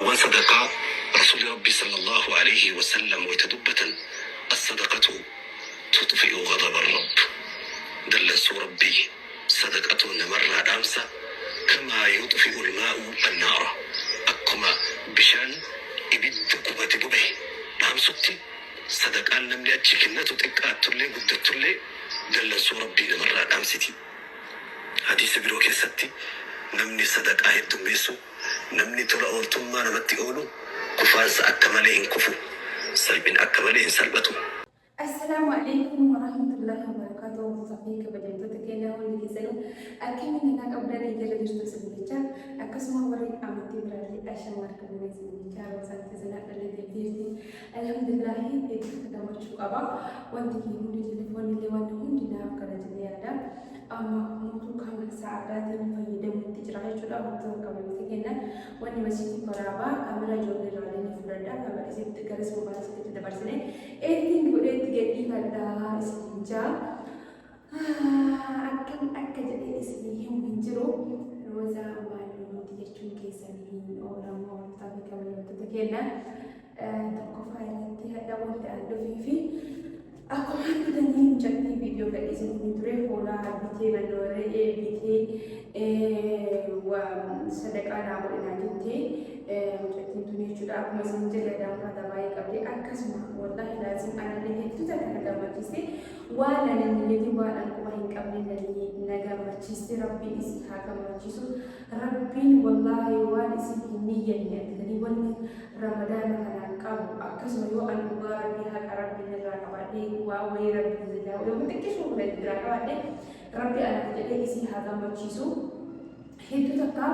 Wan sadaqaa Rasuulli Rabbii sallallaahu aleeyhi wasallam wayta dubbatan As-sadaqatu tudfi'u ghadaba Rabb Dallansuu Rabbii sadaqatu namarraa dhaamsa kamaa yudfi'ul maa'u an-naara Akkuma bishaan ibidda gubate bobahe dhaamsutti sadaqaan namni achi kennatu xiqqaattullee guddattullee dallansuu Rabbii namarraa dhaamsiti Hadiisa biroo keessatti Namni sadaqaa heddummeessu Namni tola ooltummaa namatti oolu kufaansa akka malee hin kufu, salphina akka malee hin salphatu. Assalaamu Aleeykum Warahmatullaahi Wabarakaatuhu Hordoftootaa fi Kabajamtoota keenya hundi keessanuu akkami nagaa qabdanii jala jirtu isin jecha akkasuma warri amantii biraallee ashamaa argamne isin jecha roosaan keessanaa dhalate jirti alhamdulillaahi eebbifata gammachuu qaba wanti kee hundi jillifoonni illee wanti hundi naaf kana jedhee yaada Amma mootuu kan isaa addaatiin fayyadamuutti jira jechuudha. Wantoota akka malitti kennan wanni masiitii waraabaa kamera ijoollee irraallee ni fudhadha. Kamera isitti garas moobaala isitti dabarsine editing godhee itti gadhiifadha isin jaa. Akkam akka jedhee isin himu hin jiru. Roozaa maallimooti jechuun keessan hin oolamoo wantoota fi kabajamoota kenna. tokkoffaa irratti hadha walda an dhufee fi akkuma argitanii mucattii viidiyoo gadhiisanii ture hoolaa bitee mannoo re'ee bitee sadaqaa naa godhinaa jettee mucattiin tun jechuudha akkuma isin jedhe daawwata baay'ee qabdi akkasuma wallaahi laazim anallee hedduu takka na gammachiiste waan ani hin jedhin waan ani quba hin qabne na gammachiiste rabbiin isii haa gammachiisu Rabbiin wallahi waan isin hin niyyanne argitanii wanni ramadaana kanaan qabu akkasuma yoo an dhugaa rabbii haqa rabbiin irraa qabaadhe waa wayii rabbiin zilaa yoo xiqqisuu kudha irraa qabaadhe rabbi anaaf jedhee isii haa gammachiisu hedduu takka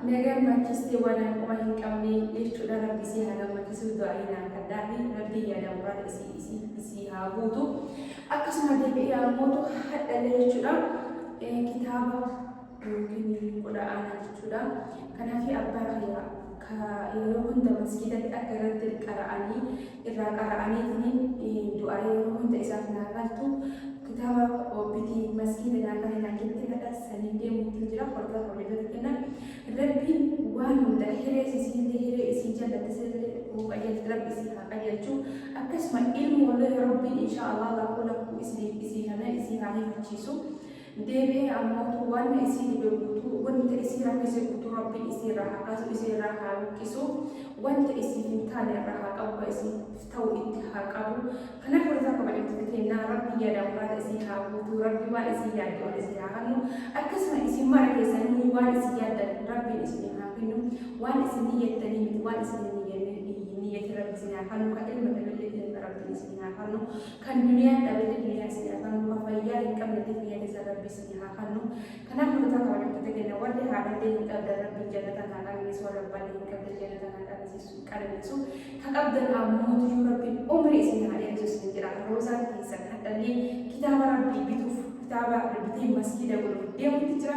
na gammachiiste waan an qoma hin qabne jechuudha rabbi isii haa gammachiisu du'aayi naaf kadhaafi rabbii yaada muraan isii isii isii haa guutu akkasuma deebi'ee ammootu hadhalee jechuudha kitaaba yookiin qudha aanaa jechuudha. Kanaafi abbaa kiyya ka yeroo hunda masgiidatti akka irratti qara'anii irraa qara'aniitiin du'aa yeroo hunda isaaf naa galtu kitaaba obbiti masgiida naa kana naa ketti kadha sanii deemuutti jira hordaa hordofatu kenna rabbiin waan hunda hiree isiillee hiree isii jallatte sillee uu qajeelti rabbi isii haa qajeelchu akkasuma ilmoollee rabbiin inshaa allah lakkuu lakkuu isii isii kana isii haa hifachiisu. Deebi'ee ammootu waan isiini dorgutuu wanni ta isii rakkise guutuu Rabbiin isii irraa haa kaasu isii irraa haa luqqisu waan ta isii hin taane irraa haa qabu ka isiif ta'u itti haa qabu kanaaf wardaa kabajamtoota keennaa Rabbiin yaada muraada isii haa guutuu Rabbi waan isii yaadde ol isii haa kannu akkasuma isin mara keessanuu waan isin yaaddan Rabbiin isinii haa kennu waan isin niyyattanii miti waan isin hin niyyanne hin niyyatin Rabbi isin haa kannu ka ilma dhabeellee ilma Rabbiin isinii haa kannu Kan duniyaan dhabete duniyaa isin haa kannu kan fayyaa hin qabnete fayyaa teessan rabbi isin haa kannu kanaaf rutaa kabajamtoota kenna warri haadhallee hin qabdan rabbi jannatan haa qananiisu warra abbaallee hin qabdan jannatan haa qananiisu qananiisu ka qabdan ammoo tujuu rabbi umri isin haa dheeresu isin jedha roozaan teessan hadhallee kitaaba rabbii bituuf kitaaba bitee masgiida godhuuf deemutti jira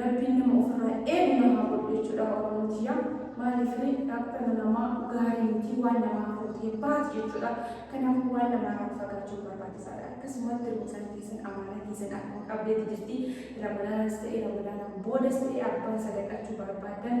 Rabbiin nama ofirraa eegu na haa godhu jechuudha oromoon tiyya maaliif dhaabbana namaa gaarii miti waan namaa hafootee baati jechuudha kanaafuu waan namaarraa of fagaachuun barbaachisaadha akkasumatti ruumsaan teessan amaanaa keessan akkuma qabdeetti jirti ramadaanaas ta'e ramadaanaan boodas ta'e abbaa isa gaqachuu barbaadan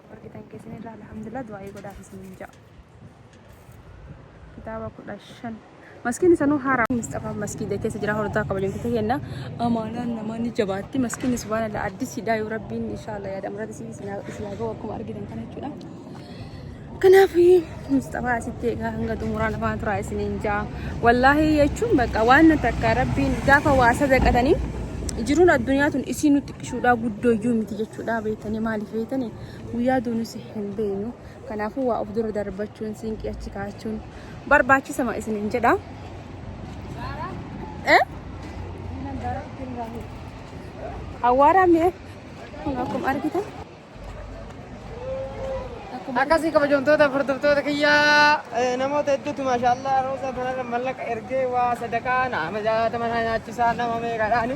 argitan keessanirraa alhamdulillah du'aa'ii godhaaf isiniin ja'a kitaaba kudha shan maskiin isanuu haaraa misxafaa maskiida keessa jira hordaa kabajan kutu kenna amaanaan namaa ni jabaatti maskiin subhaan allah addis hidaa yoo rabbiin inshaallah yaadam irratti isin isin haa ga'u akkuma argitan kana jechuudha kanaaf misxafaa asitti egaa hanga xumuraa lafaa turaa isiniin ja'a wallaahi jechuun bakka waan takka rabbiin gaafa waa sadaqatanii jiruun addunyaa tun isii nutti Ishuudhaa guddoo iyyuu miti jechuudha beektanii maaliif beektanii guyyaa duunis hin beeknu kanaafuu waa of dura darbachuun siinqii achi kaachuun barbaachisama isiniin jedha. Eh? Hawaaraa mi'a kun akkuma argitan Akkasii kabajamtoota hordoftoota kiyyaa eh, namoota hedduutu maashaallah rooza kanarra mallaqa ergee waa sadaqaa nama jaatama naa nyaachisaa nama meeqadhaani.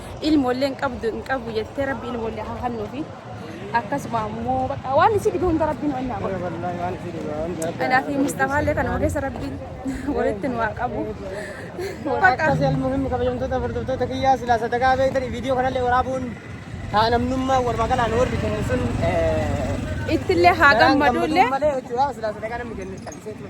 ilmoollee hin qabdu hin qabu jettee rabbi ilmoollee haa hannuufi akkasuma ammoo baqa waan isii dhibe hunda rabbiin wannaa godhu. Wallahi waan isin dhiba waan jaabba. Anaa fi Mustafaallee kanuma keessa rabbiin walitti nu haa qabu. Baqa Akkas almuhim kabajamtoota hordoftoota kiyyaa silaa sadaqaa beektan viidiyoo kanallee waraabuun haa namnummaa wal maqalaan warri kennu sun ittillee haa gammaduullee. malee jechuudha silaa sadaqaa namni kennu callisee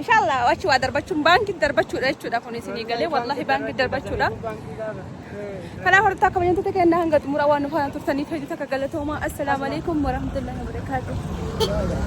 Inshallah achi waa darbachuun baankitti darbachuudha jechuudha kun isinii galee wallahi baankitti darbachuudha. Kanaaf horta akka bayyantota kennaa hanga xumura waan nu faana turtaniif hedduu takka galatoomaa. Assalaamu alaikum warahmatullahi wabarakaatuh.